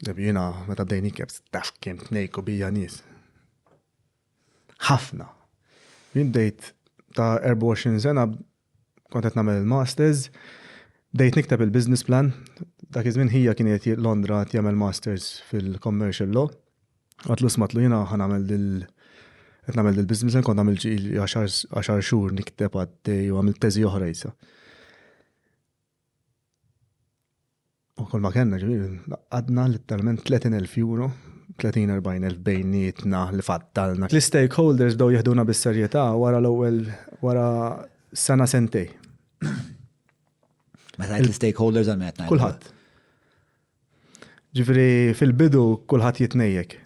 Jiena meta bdejni kif taf kemm tnejku bija nies. Ħafna. Jien bdejt ta' 24 sena kont qed nagħmel il-masters, bdejt nikteb il-business plan, dak iż-żmien ħija kien qed Londra qed jagħmel masters fil-commercial law. Għatlu smatlu jiena ħa nagħmel il qed nagħmel il-business plan kont nagħmel ġil 10 xhur nikteb għaddej u għamil teżi oħra jisa. U kol ma kellna ġifieri għadna litteralment 30,000 euro, 30-40,000 bejnietna li fattalna. L-istakeholders bdew jeħduna bis-serjetà wara l-ewwel wara sena sentej. Meta l-istakeholders għal qed Kulħadd. Ġifieri fil-bidu kulħadd jitnejjek.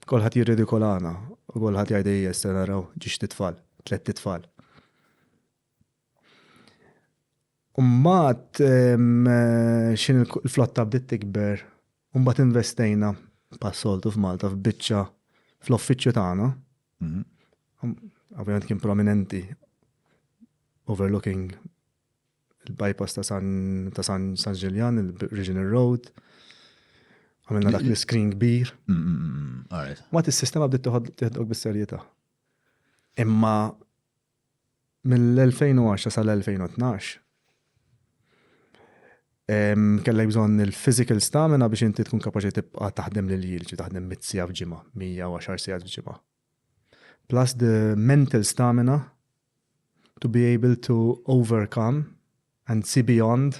Kulħadd jirridikolana u kulħadd jgħid ejja issa naraw ġiex titfal, tlett titfal. Umbat, xin il-flotta bdiet tikber, umbat investejna pas-soltu f'Malta f'biċċa fl-offiċċju tagħna. Ovvjament kien prominenti overlooking il-bypass ta' San Ġiljan, il-Regional Road. Għamilna dak l-screen kbir. Għat il-sistema bdiet tiħodok bis-serjetà. Imma Mill-2010 sal-2012 kellek bżonn il-physical stamina biex inti tkun kapaċi tibqa' taħdem lil jil, ġi taħdem mit sija f'ġimgħa, 110 sija f'ġimgħa. Plus the mental stamina to be able to overcome and see beyond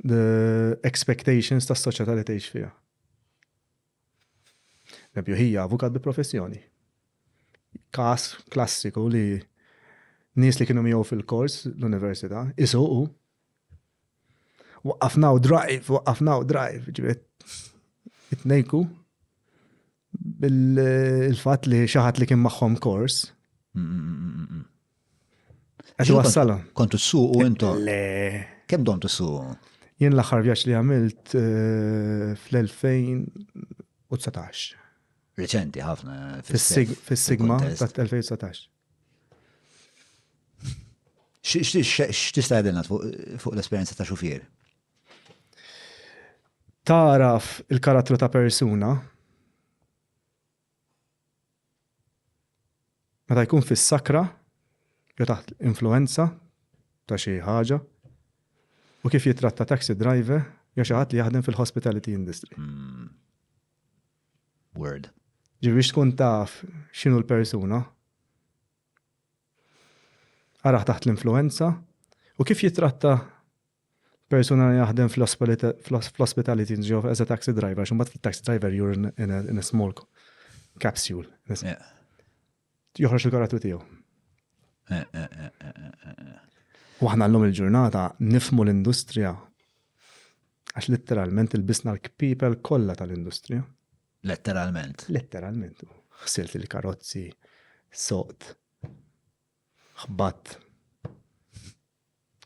the expectations tas-soċjetà li tgħix fiha. Pereżempju, hija avukat bi professjoni. Każ klassiku li nies li kienu miegħu fil-kors l-università isuqu waqqafna u drive, waqqafna u drive, ġiet itnejku bil-fatt li xaħat li kien magħhom kors. Għax wassalhom. Kont issuq u intom. Le. Kemm dom tissuq? Jien l-aħħar vjaġġ li għamilt eh, fl-2019. Reċenti ħafna. Fis-sigma ta' 2019. X'tista' għedilna fuq l-esperjenza ta' xufier? Taraf il-karattru ta' persuna Meta jkun fis-sakra jew taħt l-influwenza ta' xi ħaġa u kif jitratta taxi driver jew xi ħadd li jaħdem fil-hospitality industry. Hmm. Word. Ġifieri biex tkun taf x'inhu l-persuna, araħ taħt l-influenza u kif jitratta Persuna li jaħdem fl-ospitality job as a taxi driver, xumbat fil-taxi driver you're in a small capsule. Joħroġ il-karattu tiegħu. Waħna l-lum il-ġurnata nifmu l-industrija għax letteralment il-bisna l-kpipel kollha tal-industrija. Letteralment. Letteralment. Xsilt il-karozzi, soqt, xbat.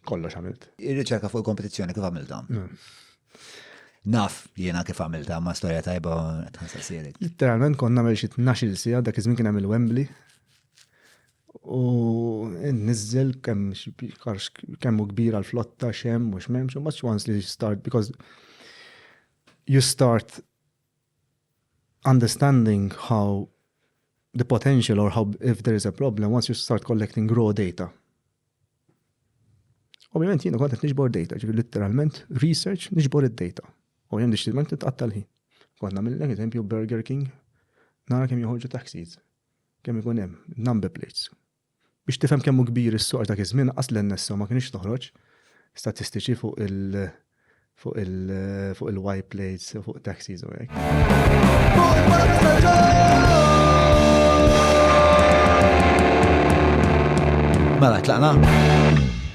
Kollox għamilt. Ir-riċerka fuq il-kompetizzjoni kif għamilta? Naf jiena kif għamilta ma' storja tajba tħassar sierik. Literalment konna għamil xi 12 sija dak iż-żmien kien hemm il-Wembley. U nizzel kemm kemm hu kbira l-flotta xem u x'memx, u much once li start because you start understanding how the potential or how if there is a problem once you start collecting raw data Ovvjament jiena kont qed niġbor data, ġifi literalment research niġbor id-data. U jem deċidiment titqatta l-ħin. Kont nagħmel eżempju Burger King nara kemm joħorġu taxis. Kemm ikun hemm number plates. Biex tifhem kemm hu kbir is-suq dak iż-żmien qas l-NSO ma kienx toħroġ statistiċi fuq il- fuq il-white plates, fuq taxis u hekk. Mela, tlaqna?